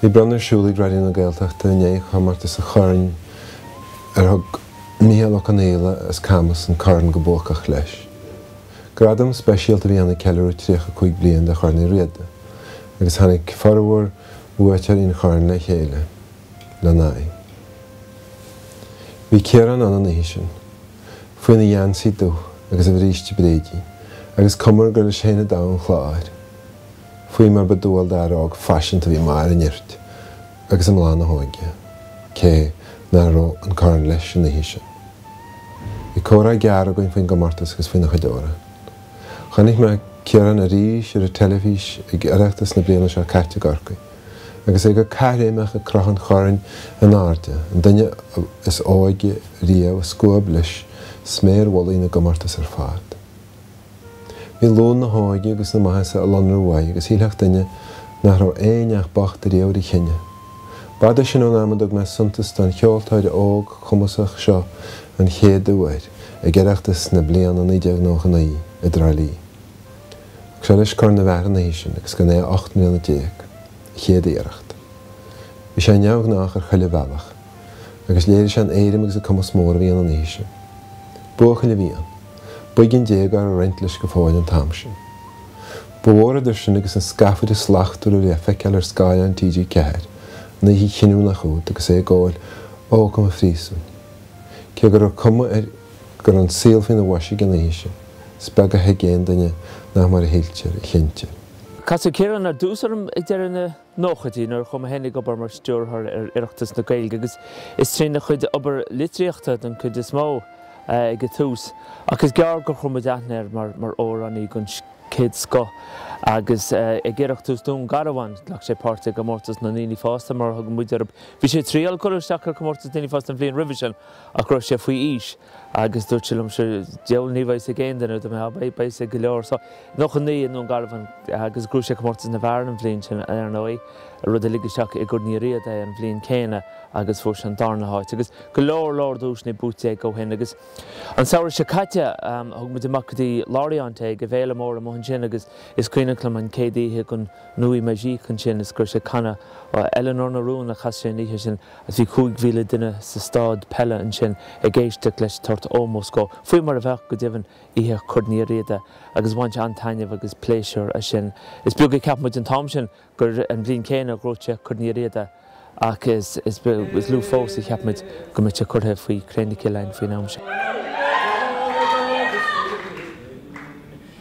Bhí bronnadh ar siúl ag Raidió na Gaeltachta i ndiaidh chomórtas an Choirn ar thug Mícheál Ó Confhaola as Camas an corn go buacach leis. Gradam speisialta a bhí ann ag ceiliúradh 35 bliain de Chorn Uí Riada agus tháinig formhór bhuaiteoirí an Choirn le chéile lena aghaidh. Bhí Ciarán ann an oíche sin, faoina gheansaí dubh agus a bhríste bréidín, agus cuma air gur leis féin an domhan chláir. faoi mar ba dual d'fhear óg faiseanta a bhí i mbarr a nirt agus i mbláth na hóige, cé ná raibh an corn leis an oíche sin. Bhí comhrá gearr againn faoin gcomórtas agus faoina chuid amhrán. Chonaic mé Ciarán arís ar an teilifís ag Oireachtas na bliana seo caite i gCorcaigh, agus é go caithréimeach ag crochadh an choirn in airde, an duine is óige riamh a scuab leis sméar mhullaigh na gcomórtas ar fad. Bhí luan na hóige agus na maitheasa ag lonrú uaidh agus shílfeadh duine nach raibh aon neach bocht ariamh ar a chine. B'fhada sin ón am a dtug mé suntas don cheoltóir óg cumasach seo an chéad uair, ag Oireachtas na bliana 1999 i dTrá Lí. Thug sé leis Corn na bhFear an oíche sin agus gan é ocht mbliana déag, a chéad iarracht. Bhí sé neamhghnách ar chuile bhealach. agus léirigh sé an éirim agus an cumas mór a bhí ann an oíche sin. Buachaill a bhí ann. Boige an déagóra ag roinnt leis go fóill an t-am sin. Ba mhór idir sin agus an scafaire slachtmhar a bhí le feiceáil ar scáileán TG4 an oíche chinniúnach úd agus é ag gabháil Ócam an Phríosúin. Cé go raibh cuma air go raibh an saol faoina bhois aige an oíche sin, is beag a thuig aon duine nach mar a shíltear a chinntear. Casadh Ciarán ar dtús orm ag deireadh na. nóchaidí nuair a chuaigh mé féin ag obair mar stiúrthóir ar Oireachtas na Gaeilge agus is trína chuid obair litríochta den chuid is mó ag an tús ach is gearr gur chuir muid aithne air mar amhránaí den chéad scoth agus ag Oireachtas Dún Garbhán ghlac sé páirt i gcomórtas na ndaoine fásta mar a thugann muid orthu. Bhí sé ag triail cur isteach ar chomórtas daoine fásta an bhliain roimhe sin ach go raibh sé faoi aois. Agus dúirt sé liomsa, diabhal ní bheidh's ag aon duine, dúirt mé, beidh's ag go leor. So, 99 i nDún Garbhán agus ghnóthaigh sé Comórtas na bhFear an bhliain sin, ar ndóigh, rud a lig isteach i gCorn Uí Riada é an bhliain chéanna agus fuair sé an darna háit. Agus go leor, leor duaiseanna buaite aige ó shin. Agus an samhradh seo caite, thug muid amach go dtí Lorient é, ag an bhféile mhór amuigh ansin agus is cuimhneach liom an chéad oíche ag an Nuit Magique ansin is go raibh sé ag canadh Eleanor na Rún a chas sé an oíche sin. Agus bhí 5,000 duine sa staid peile ansin ag éisteacht leis ag tabhairt ómós dhó, faoi mar a bheadh, go deimhin, oíche Chorn Uí Riada, agus bhain sé an-taitneamh agus pléisiúr as sin. Is beag a cheap muid an t-am sin gur an bhliain chéanna a ghnóthódh sé Corn Uí Riada, ach is lú fós a cheap muid go mbeadh sé curtha faoi chré na cille againn faoin am sin.